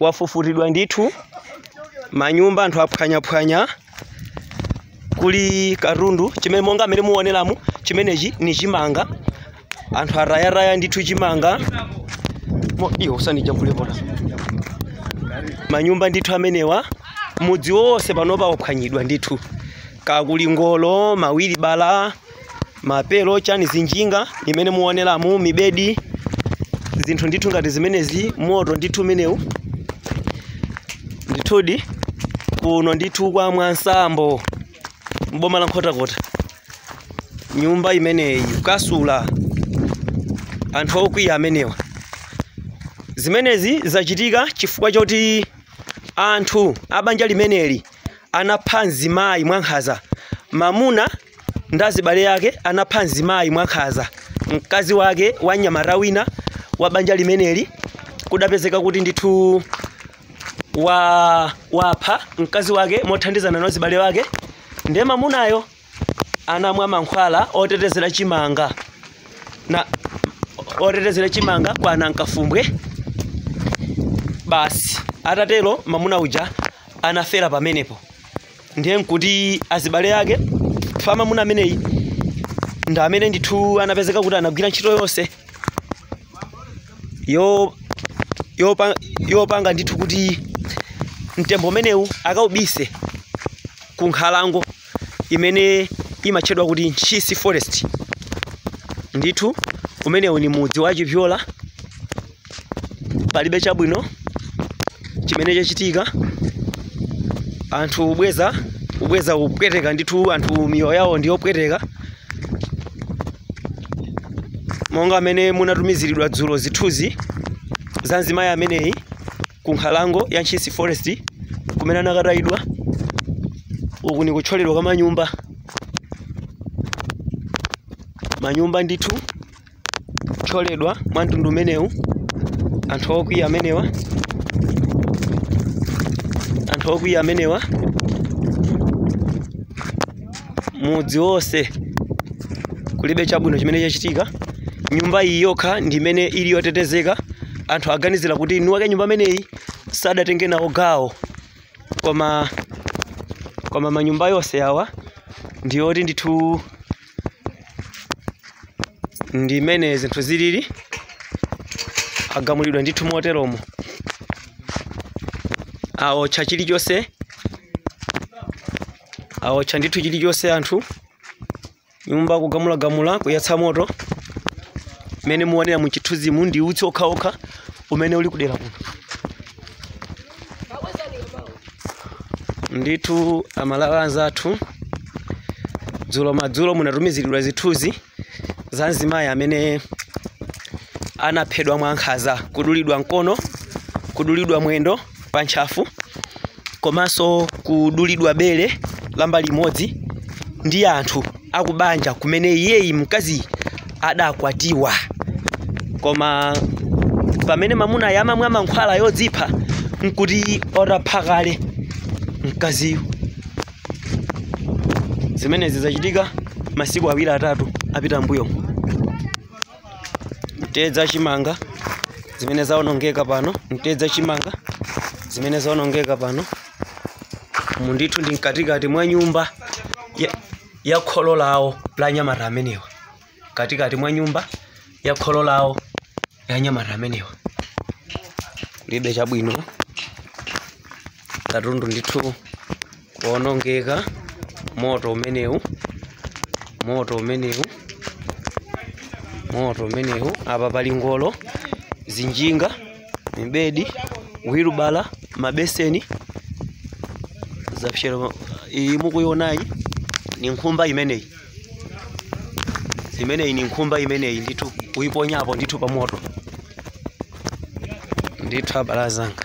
wafufutidwa ndithu manyumba anthu aphwanyaphwanya kuli katundu chimene monga amene muoneramu chimenechi ni chimanga anthu atayataya ndithu chimanga Mo- iyo usanijambule pota manyumba ndithu amenewa mudzi wonse panopa waphwanyidwa ndithu kakuli ngolo mawiri bala mapelo chani zinjinga imene muoneramu mibedi zinthu ndithu ngati zimenezi moto ndithu umenewu ndithudi kuno ndithu kwa mwansambo mboma la nkhotakota nyumba imeneyi ukasula anthu okwiya amenewa zimenezi zachitika chifukwa choti anthu abanja limeneli anapha mzimayi mwankhaza mamuna ndi azibale yake anapha mzimayi mwankhaza mkazi wake wa mnyamata wina wa banja limeneli adapezeka kuti ndithu wa wapha mkazi wake mothandizana na zibale wake ndiye mamunayo anamwa mankhwala otetezera chimanga kwa anankafumbwe basi atatero mamuna uja anafera pamenepo ndiye nkuti azibale ake pa mamuna ameneyi ndi amene ndithu anapezeka kuti anagwira ntchito yonse yopa- yopanga ndithu kuti mtembo umenewu akaubise ku nkhalango imene imatchedwa kuti ntchisi forest ndithu umenewu ni mudzi wa chipyola palibe chabwino chimene chachitika anthu ubweza ubweza kupweteka ndithu anthu miyoyo yawo ndi yopweteka monga amene munatumiziridwa dzulo zithunzi za mzimayi ameneyi ku nkhalango ya ntchisi forest kumene anakatayidwa uku ni kuthyoledwa kwa manyumba manyumba ndithu kuthyoledwa mwa mtundu umenewu anthu okwiya amenewa anthu okwiya amenewa mudzi wonse kulibe chabwino chimene chachitika nyumba iyi yokha ndi imene ili yotetezeka anthu aganizira kuti mwini wake nyumba imeneyi sadatenge nawo gawo koma manyumba yonse awa ndiyoti ndithu ndi mmene zinthu zilili agumulidwa ndithu moteromo aotcha chilichonse aotcha ndithu chilichonse anthu nyumba kugumulagumula kuyatsa moto mmene muonera mu chithunzimu ndi utsi okhaokha umene uli kudera kuno ndithu amalawi anzathu dzulo madzulo munatumiziridwa zithunzi za mzimayi amene anaphedwa mwankhaza kudulidwa mkono kudulidwa mwendo pa ntchafu komanso kudulidwa bere la mbali imodzi ndi anthu akubanja kumene iyeyu mkaziyu adakwatiwa koma pamene mamunayo amamwa mankhwala odzipha nkuti atapha kale mkaziyu zimenezi zachitika masiku awiri atatu apita mbuyomo mtedza chimanga zimene zaonongeka pano mtedza chimanga zimene zaonongeka pano umu ndithu ndi mkatikati mwa nyumba ya, ya kholo lawo la anyamata amenewa mkatikati mwa nyumba ya kholo lawo la anyamata amenewa kulibe chabwino katundu ndithu kuonongeka moto umenewu moto umenewu moto umenewu apa pali ngolo zinjinga mibedi wilubala mabeseni zapserera iyi mukuionayi ni nkhumba imeneyi imeneyi ni nkhumba imeneyi ndithu kuyiponyapo ndithu pa moto ndithu abale anzanga